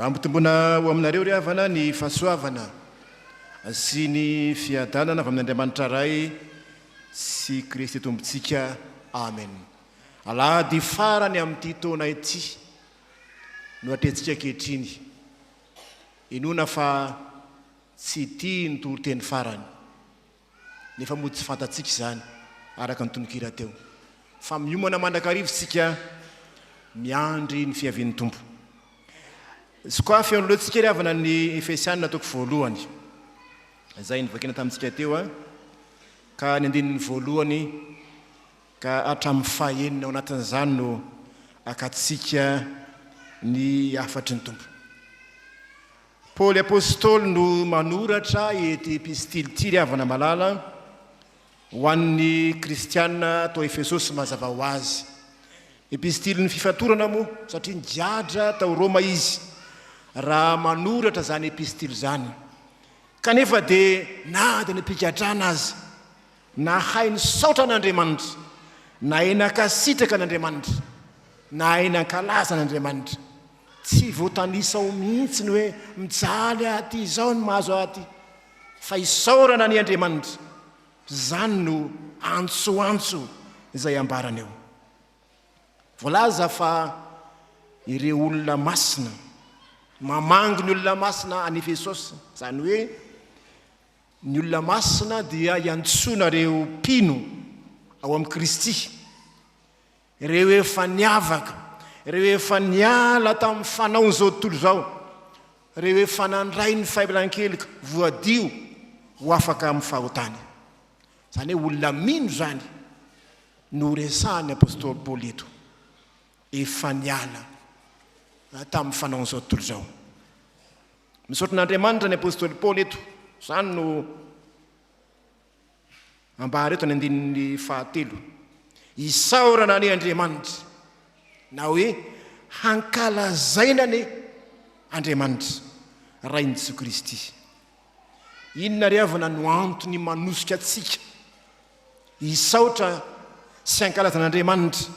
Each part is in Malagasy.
Ampitomboina ho aminareo, ry havana, ny fahasoavana sy ny fiadanana avy amin'Andriamanitra Ray sy Kristy Tompontsika. Amen. Alahady farany amin'ity taona ity no atrehintsika ankehitriny. Inoana fa tsy ity ny toriteny farany, nefa moa tsy fantatsika izany araka ny tononkira teo, fa miomana mandrakariva isika miandry ny fiavian'ny Tompo. Sokafy aloha tsika ry havana ny Efesiana toko voalohany, izay novakiana tamintsika teo, ka ny andininy voalohany Ka hatramin'ny fahenina ao anatin'izany no akatsika ny hafatry ny Tompo. Paoly Apostoly no manoratra ity epistily ity, ry havana malala, ho an'ny Kristiana tao Efesosy mazava ho azy. Epistilin'ny fifatorana moa, satria nigadra tao Roma izy raha manoratra izany epistily izany. Kanefa dia na dia ny mpigadrana aza Nahay nisaotra an'Andriamanitra, nahay nankasitraka an'Andriamanitra, nahay nankalaza an'Andriamanitra. Tsy voatanisa ao mihitsy ny hoe mijaly aty izao ny mahazo aty, fa isaorana an' i Andriamanitra. Izany no antsoantso izay ambarany eo. Voalaza fa ireo olona masina mamangy ny olona masina any Efesosy, izany hoe, Ny olona masina dia iantsoana ireo mpino ao amin'i Kristy, ireo efa niavaka, ireo efa niala tamin'ny fanaon'izao tontolo izao, ireo efa nandray ny fahelankeloka, voadio ho afaka amin'ny fahotany. Izany hoe olona mino izany no resahan'ny apostoly Paoly eto, efa niala tamin'ny fanaon'izao tontolo izao. Misaotra an'Andriamanitra ny apostoly Paoly eto, izany no ambara eto ny andininy fahatelo. Isaorana anie Andriamanitra na hoe hankalazaina anie Andriamanitra, Rain'i Jesoa Kristy. Inona ry havana no antony manosika antsika hisaotra sy hankalazana Andriamanitra,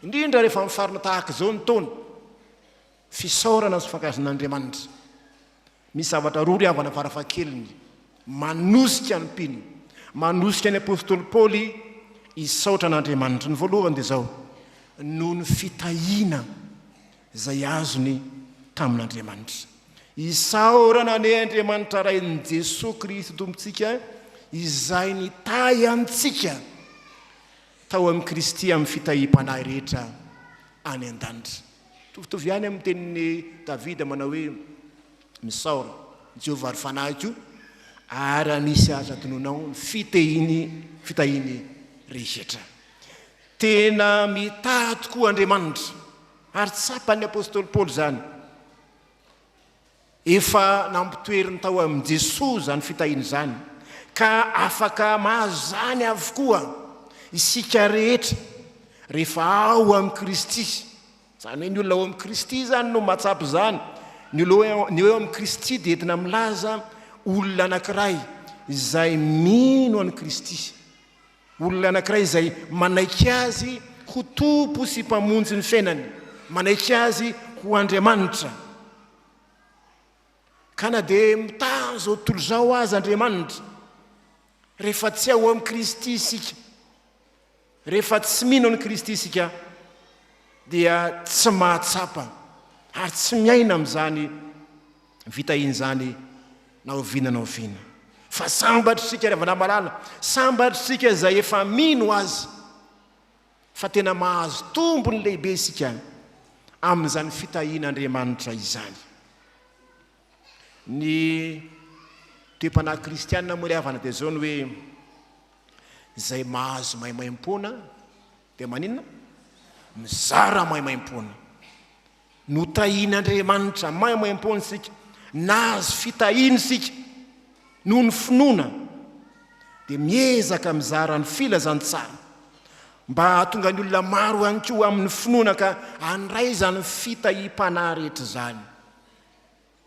indrindra rehefa mifarina tahaka izao ny taona? Fisaorana sy fankahaizana Andriamanitra. Misy zavatra roa ry havana farafahakeliny manosika ny mpino, manosika ny apostoly Paoly hisaotra an'Andriamanitra. Ny voalohany dia izao, noho ny fitahiana izay azony tamin'Andriamanitra. Isaorana anie Andriamanitra Rain'i Jesoa Kristy Tompontsika izay nitahy antsika tao amin'i Kristy amin'ny fitahiam-panahy rehetra any an-danitra. Mitovitovy ihany amin'ny tenin'i Davida manao hoe, Misaora Jehovah ry fanahiko, ary raha misy aza tononao ny fitehiny, fitahiny rehetra. Tena mitaha tokoa Andriamanitra, ary tsapan'ny apostoly Paoly izany. Efa nampitoeriny tao amin'i Jesoa izany fitahiana izany, ka afaka mahazany avokoa isika rehetra rehefa ao amin'i Kristy. Izany hoe ny olona ao amin'i Kristy izany no mahatsapa izany. Ny olona eo amin'i Kristy dia entina milaza olona anankiray izay mino an'i Kristy, olona anankiray izay manaiky Azy ho Tompo sy Mpamonjy ny fiainany, manaiky Azy ho Andriamanitra. Ka na dia mitaha an'izao tontolo izao aza Andriamanitra, rehefa tsy ao amin'i Kristy isika, rehefa tsy mino an'i Kristy isika, dia tsy mahatsapa ary tsy miaina amin'izany vitahiana izany na oviana na oviana. Fa sambatr'isika ry havana malala, sambatr'isika izay efa mino Azy, fa tena mahazo tombony lehibe isika amin'izany fitahian'Andriamanitra izany. Ny toe-panahy kristianina moa ry havana dia izao ny hoe izay mahazo maimaimpoana dia maninona? Mizara maimaimpoana. Notahian'Andriamanitra maimaimpoana isika, nahazo fitahiana isika noho ny finoana, dia miezaka mizara ny filazantsara mba hahatonga ny olona maro ihany koa amin'ny finoana ka handray izany fitahiam-panahy rehetra izany.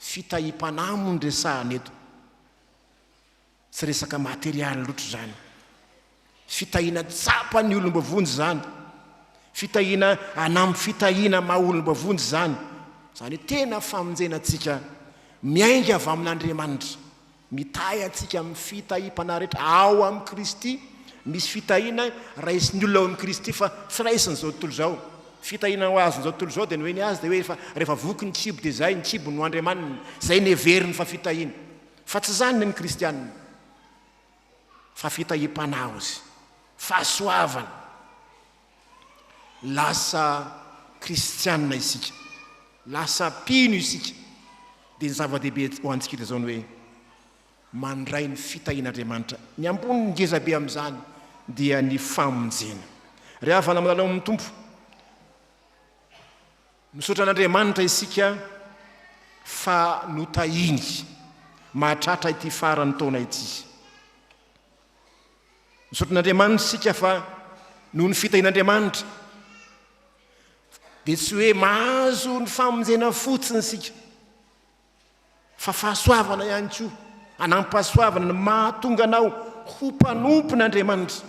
Fitahiam-panahy moa no resahana eto. Tsy resaka materialy loatra izany. Fitahiana tsapa ny olom bavonjy izany. Fitahiana hanam fitahiana maha olom bavonjy izany. Izany hoe tena famonjena antsika miainga avy amin Andriamanitra. Mitahy antsika amin'ny fitahim panahy rehetra ao amin'i Kristy. Misy fitahiana raisin'ny olona ao amin'i Kristy fa tsy raisin'izao tontolo izao. Fitahiana ho azon'izao tontolo izao dia ny hoe ny azy dia hoe rehefa rehefa voky ny kibo dia izay, ny kibo no Andriamaniny. Izay no heveriny fa fitahiana. Fa tsy izany ny kristianina, fa fitahiam-panaozy, fahasoavana. Lasa kristianina isika, lasa mpino isika, dia ny zava-dehibe ho antsika dia izao ny hoe, mandray ny fitahian'Andriamanitra. Ny ambony ngeza be amin'izany dia ny famonjena. Ry havana milalao amin'ny Tompo, Misaotra an'Andriamanitra isika fa notahiny mahatratra ity faran'ny taona ity. Misaotra an'Andriamanitra isika fa noho ny fitahian'Andriamanitra dia tsy hoe mahazo ny famonjena fotsiny isika fa fahasoavana ihany koa, anampahasoavana ny mahatonga anao ho mpanompon'Andriamanitra.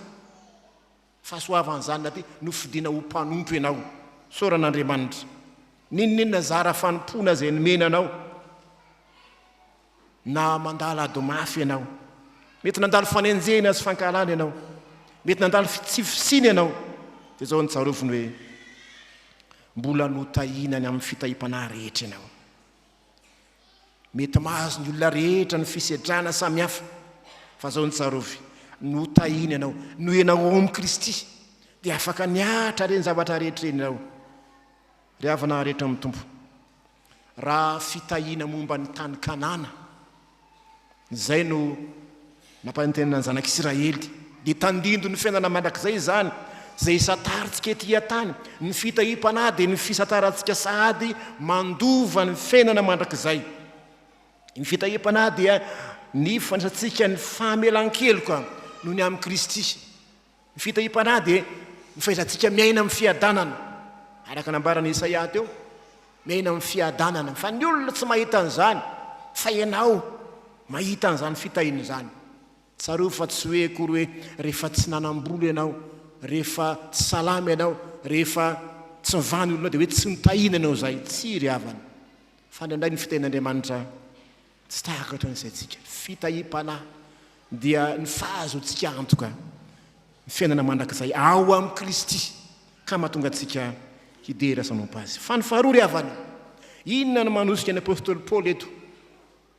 Fahasoavan'izany na dia nofidina ho mpanompo ianao. Isaorana Andriamanitra. N'inon'inona zara fanompoana izay nomena anao. Na mandalo ady mafy ianao. Mety nandalo fanenjehina sy fankahalana ianao. Mety nandalo fitsifisiana ianao. Dia izao no tsarovy ny hoe mbola notahina any amin'ny fitahiam-panahy rehetra ianao. Mety mahazo ny olona rehetra ny fisedrana samihafa, fa zao no tsarovy, notahiny ianao, noenao ao amin'i Kristy, dia afaka niatra ireny zavatra rehetra ireny ianao. Ry havana rehetra amin'ny Tompo, raha fitahiana momba ny tany Kanana, Izay no nampanentenana ny zanak'i Isiraely. Dia tandindoy ny fiainana mandrakizay izany, izay isantarintsika ety an-tany. Ny fitahiam-panahy dia ny fisantarantsika sahady mandova ny fiainana mandrakizay. Ny fitahiam-panahy dia ny fandraisantsika ny famelan-keloka noho ny amin'i Kristy. Ny fitahiam-panahy dia ny fahaizantsika miaina amin'ny fiadanana, araka ny nambaran'i Isaia teo, miaina amin'ny fiadanana, fa ny olona tsy mahita an'izany, fa ianao mahita an'izany fitahiana izany. Tsarovy fa tsy hoe akory hoe rehefa tsy nanam-bola ianao, rehefa tsy salama ianao, rehefa tsy mivaha ny olona dia hoe tsy nitahiana ianao izay, tsia ry havana, fa indraindray ny fitahian'Andriamanitra, Tsy takatra ny saintsika. Fitahiam-panahy dia ny fahazoantsika antoka ny fiainana mandrakizay ao amin'i Kristy ka mahatonga antsika hidera ny sanompa Azy. Fa ny faharoa ry havana, inona no manosika ny apostoly Paoly eto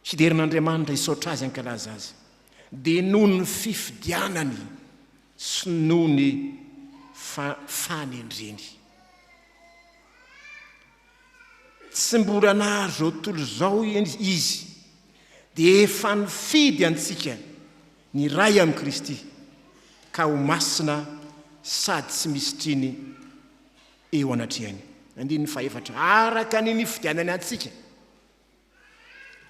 hidera an'Andriamanitra, hisaotra Azy, hankalaza Azy? Dia noho ny fifidianany sy noho ny fanendreny. Tsy mbola nahazo izao tontolo izao Izy, dia efa nifidy antsika ny iray amin'i Kristy, ka ho masina sady tsy misy triny eo anatrehany. Andininy fahefatra, araka ny nifidianany antsika.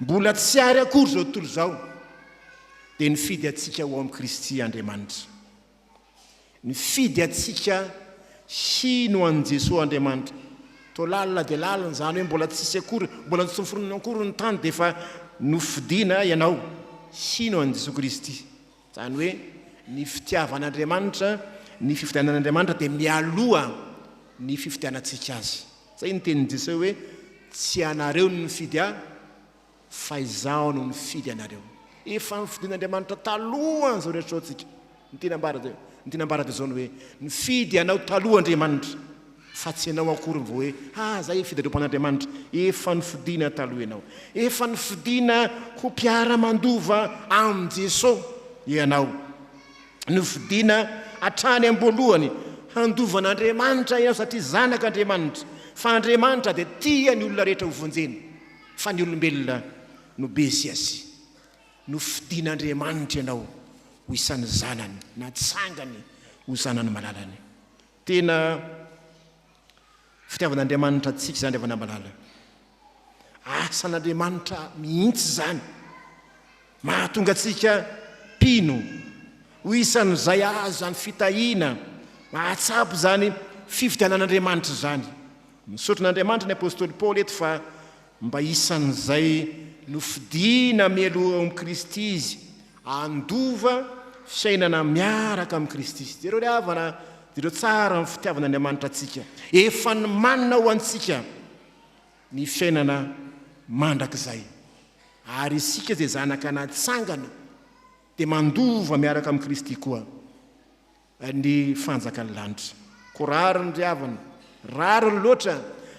Mbola tsy ary akory izao tontolo izao dia nifidy antsika ho amin'i Kristy Andriamanitra. Nifidy antsika hino an'i Jesoa Andriamanitra. Toa lalina dia lalina izany hoe mbola tsisy akory, mbola tsy noforonina akory ny tany dia efa nofidina ianao hino an'i Jesoa Kristy. Izany hoe ny fitiavan'Andriamanitra, ny fifidianan'Andriamanitra dia mialoha ny fifidianantsika Azy. Izay ny tenin'i Jesoa hoe, Tsy ianareo no nifidy Ahy, fa Izaho no nifidy anareo. Efa nofidin'Andriamanitra talohan' izao rehetra izao tsika. Ny teny ambara dia, ny teny ambara dia izao ny hoe, Nifidy anao taloha Andriamanitra. Fa tsy ianao akory vao hoe, ha zay fidarompo an'Andriamanitra, efa nofidina taloha ianao, efa nofidina ho mpiara-mandova amin'i Jesoa ianao, nofidina hatrany am-boalohany handova an'Andriamanitra ianao satria zanak'Andriamanitra, fa Andriamanitra dia tia ny olona rehetra ho vonjeny, fa ny olombelona no be sy asy. Nofidin'Andriamanitra ianao ho isan'ny zanany, natsangany ho zanany malalany. Tena fitiavan'Andriamanitra antsika izany ry havana malala. Asan'Andriamanitra mihitsy izany. Mahatonga antsika mpino ho isan'izay azo izany fitahiana mahatsapa izany fifidianan'Andriamanitra izany. Misaotra an'Andriamanitra ny apostoly Paoly eto fa Mba isan'izay nofidina mialoha ao amin'i Kristy izy, handova fiainana miaraka amin'i Kristy. Jereo ilay havana, jereo tsara ny fitiavan'Andriamanitra antsika. Efa nomanina ho antsika ny fiainana mandrakizay. Ary isika izay zanaka natsangana dia mandova miaraka amin'i Kristy koa. ny fanjakan'ny lanitra. Ko rariny ry havana, rariny loatra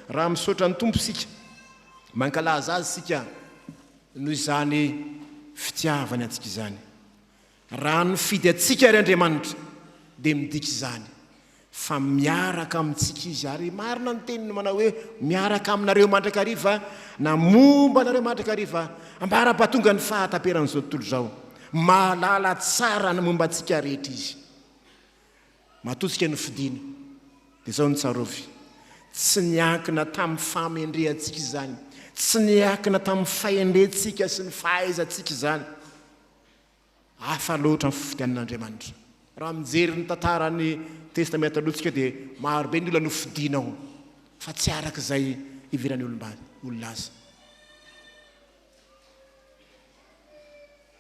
raha misaotra ny Tompo isika, mankalaza Azy isika noho izany fitiavany antsika izany. Raha nifidy antsika ary Andriamanitra dia midika izany fa miaraka amintsika Izy ary marina ny teniny manao hoe miaraka aminareo mandrakariva na momba anareo mandrakariva ambara-pahatongan'ny fahataperan'izao tontolo izao. Mahalala tsara ny momba antsika rehetra Izy. Matoa tsika nofidina, dia izao no tsarovy, tsy niankina tamin'ny fahamendrehantsika izany, tsy niankina tamin'ny fahendrentsika sy ny fahaizantsika izany. Hafa loatra ny fifidianan'Andriamanitra. Raha mijery ny tantaran'ny Testamenta Taloha tsika dia maro be ny olona nofidina ao, fa tsy araka izay iheveran'ny olom-bady, olona azy.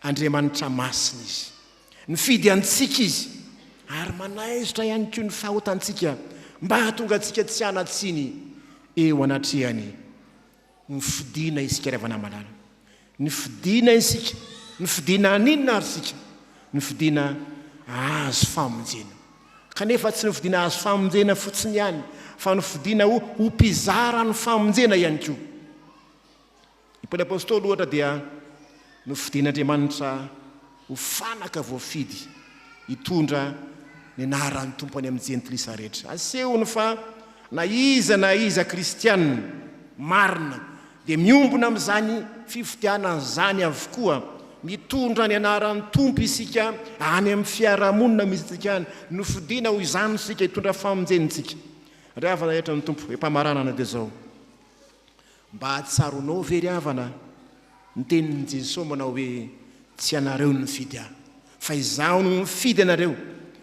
Andriamanitra masina Izy. Nifidy antsika Izy, ary manaisotra ihany koa ny fahotantsika mba hahatonga antsika tsy hanatsiny eo anatrehany. Nifidina isika ry havana malala. Nifidina isika. Nifidina haninona ary isika? Nifidina hahazo famonjena. Kanefa tsy nifidina hahazo famonjena fotsiny ihany, fa nifidina ho ho mpizara ny famonjena ihany koa. I Paoly Apostoly, ohatra, dia nofidin'Andriamanitra ho fanaka voafidy hitondra ny anaran'ny Tompo any amin'ny Jentilisa rehetra. Asehony fa na iza na iza Kristianina marina dia miombona amin'izany fifidianana izany avokoa. Mitondra ny anaran'ny Tompo isika any amin'ny fiarahamonina misy antsika any. Nofidina ho izany isika, hitondra famonjena isika. Ry havana rehetra ny Tompo, hoe-pamaranana dia izao, Mba tsaronao ve ry havana ny tenin'i Jesoa manao hoe tsy ianareo no nifidy ahy fa izaho no nifidy anareo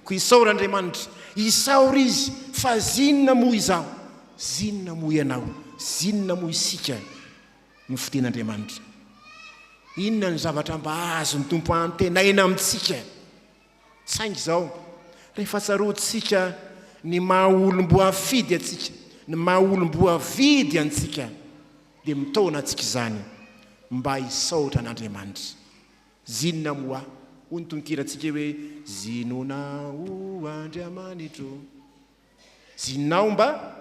koa isaora Andriamanitra isaora izy fa zinona moa izaho zinona moa ianao zinona moa isika no fidin'Andriamanitra inona ny zavatra mba azon'ny Tompo antenaina amintsika Saingy izao, rehefa tsaroantsika ny maha olom-boafidy antsika, ny maha olom-boavidy antsika, dia mitaona antsika izany mba hisaotra an'Andriamanitra. Zinona moa hoy ny tononkirantsika hoe, Zinona o Andriamanitro? Jinao mba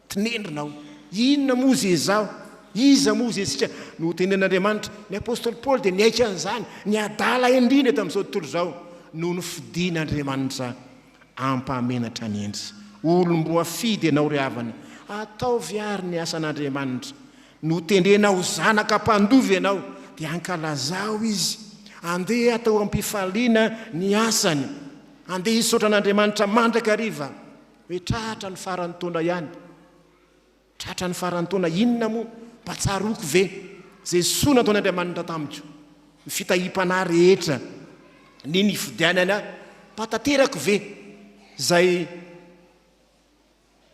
tinendrina aho. Inona moa ze izaho? Iza moa ze isika? Notenenin'Andriamanitra. Ny apostoly Paoly dia niaiky an'izany, ny adala indrindra tamin'izao tontolo izao no nofidin'Andriamanitra hampamenatra ny endriny. Olom-boafidy ianao ry havana, ataovy àry ny asan'Andriamanitra. Notendrena ho zanaka mpandova ianao, dia ankalazao Izy. Andeha atao am-pifaliana ny asany. Andeha hisaotra an'Andriamanitra mandrakariva hoe tratra ny faran'ny taona ihany. Tratra ny faran'ny taona inona moa? Mba tsaroako ve izay soa nataon'Andriamanitra tamiko? Ny fitahiam-panahy rehetra, ny nifidianany ahy, mba tanterako ve izay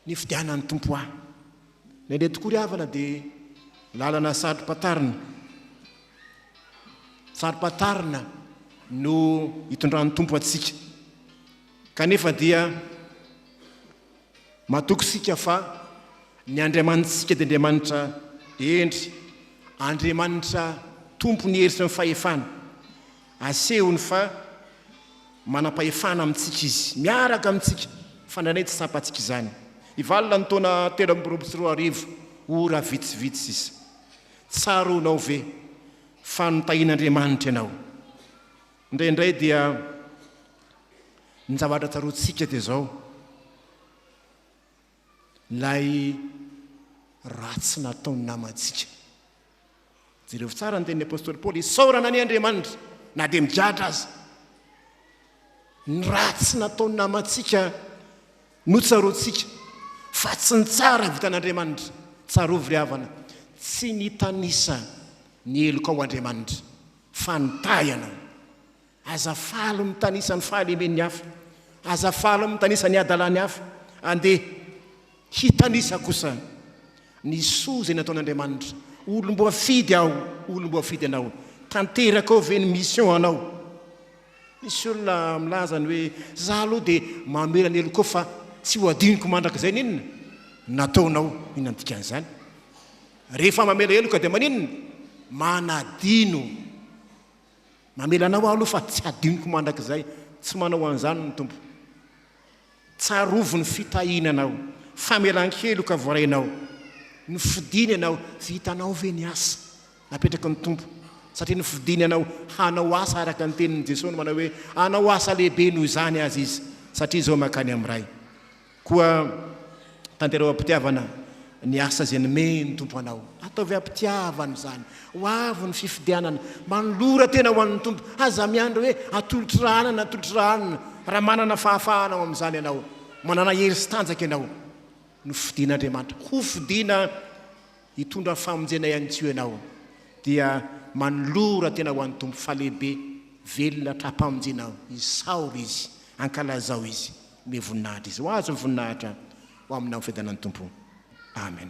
ny fidehanan'ny Tompo ahy. Nandeha tokoa ry havana dia lalana saropatarina, saropatarina no itondran'ny Tompo antsika. Kanefa dia matoky isika fa ny Andriamanitsika dia Andriamanitra hendry, Andriamanitra Tompon'ny hery sy ny fahefana. Asehony fa manam-pahefana amintsika Izy, miaraka amintsika, fa indraindray tsy tsapantsika izany. I Val ny taona telo amby roapolo sy roa arivo, Ora vitsivitsy sisa. Tsaroanao ve fa notahian'Andriamanitra ianao? Indraindray dia ny zavatra tsaroantsika dia izao. ilay ratsy nataon'ny namantsika. Jereo tsara ny tenin'ny apostoly Paoly, isaorana anie Andriamanitra na dia migadra aza. Ny ratsy nataon'ny namantsika notsaroantsika fa tsy ny tsara vitan'Andriamanitra. Tsarovy ry havana, tsy nitanisa ny helokao Andriamanitra fa nitahy ianao. Aza faly mitanisa ny fahalemen'ny hafa, aza faly mitanisa ny hadalan'ny hafa. Andeha hitanisa kosa ny soa izay nataon'Andriamanitra. Olom-boafidy aho, olom-boafidy anao. Tanteraka ao ve ny mission anao? Misy olona milaza ny hoe, za aloha dia mamela ny helokao fa tsy ho adinoko mandrakizay ny inona nataonao. Inona ny dikan'izany? Rehefa mamela heloka dia maninona? Manadino. Mamela anao aho aloha fa tsy hadinoko mandrakizay, tsy manao an'izany ny Tompo. Tsarovy ny fitahiana anao, famelan-keloka voarainao, nofidiny ianao, tsy hitanao ve ny asa napetraky ny Tompo? Satria nofidiny ianao hanao asa araka ny tenin'i Jesoa no manao hoe, hanao asa lehibe noho izany aza izy, satria izao mankany amin'ny Ray. Koa tanterao am-pitiavana ny asa izay nomeny ny Tompo anao. Ataovy am-pitiavana izany. Ho avy ny fifidianana. Manolora tena ho an'ny Tompo. Aza miandry hoe atolotry ra anona na atolotry ra anona. Raha manana fahafahana ao amin'izany ianao, manana hery sy tanjaka ianao, nofidin'Andriamanitra, hofidina hitondra famonjena ihany koa ianao, dia manolora tena ho an'ny Tompo fa lehibe, velona, tra-pamonjena ao. Isaoro Izy. Ankalazao Izy. ny voninahitra izy ho azy ny voninahitra ho amina fidana ny tompo amen